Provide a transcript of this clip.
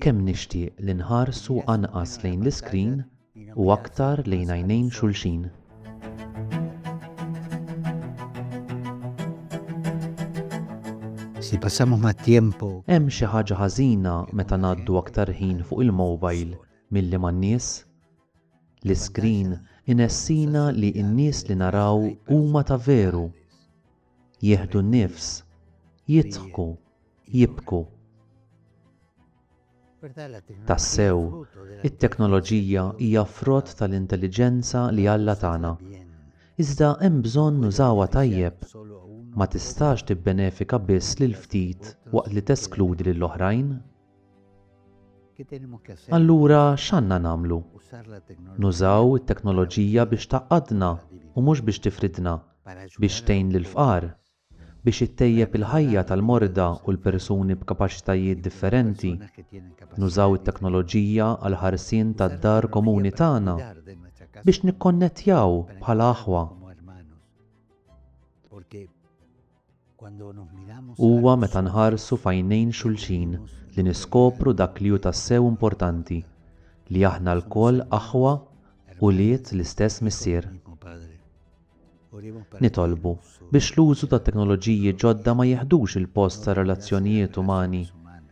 Kemm nixtieq li nħarsu anqas lejn l-iskrin u aktar lejn għajnejn xulxin. Hemm xi ħaġa ħażina meta ngħaddu aktar ħin fuq il-mowbajl milli man-nies? L-iskrin inessina li n-nies li naraw huma ta' veru. jieħdu n-nifs, jidħku, jibku. Tassew, it-teknoloġija hija frott tal-intelliġenza li Alla tana. Iżda hemm bżonn nużawha tajjeb. Ma tistax tibbenefika biss lil ftit waqt li teskludi lill-oħrajn. Allura x'għandna nagħmlu? Nużaw it-teknoloġija biex tgħaqqadna u mhux biex tifridna, biex tgħin lill-fqar, biex ittejjeb il-ħajja tal-morda u l-persuni b'kapaċitajiet differenti. Nużaw it-teknoloġija għall-ħarsien tad-dar komuni tagħna, biex nikkonnettjaw bħala aħwa. Huwa meta nħarsu f'għajnejn xulxin li niskopru dak li hu tassew importanti, li aħna lkoll aħwa ulied l-istess Missier. Nitolbu biex l-użu tat-teknoloġiji ġodda ma jiħdux il-post tar-relazzjonijiet umani,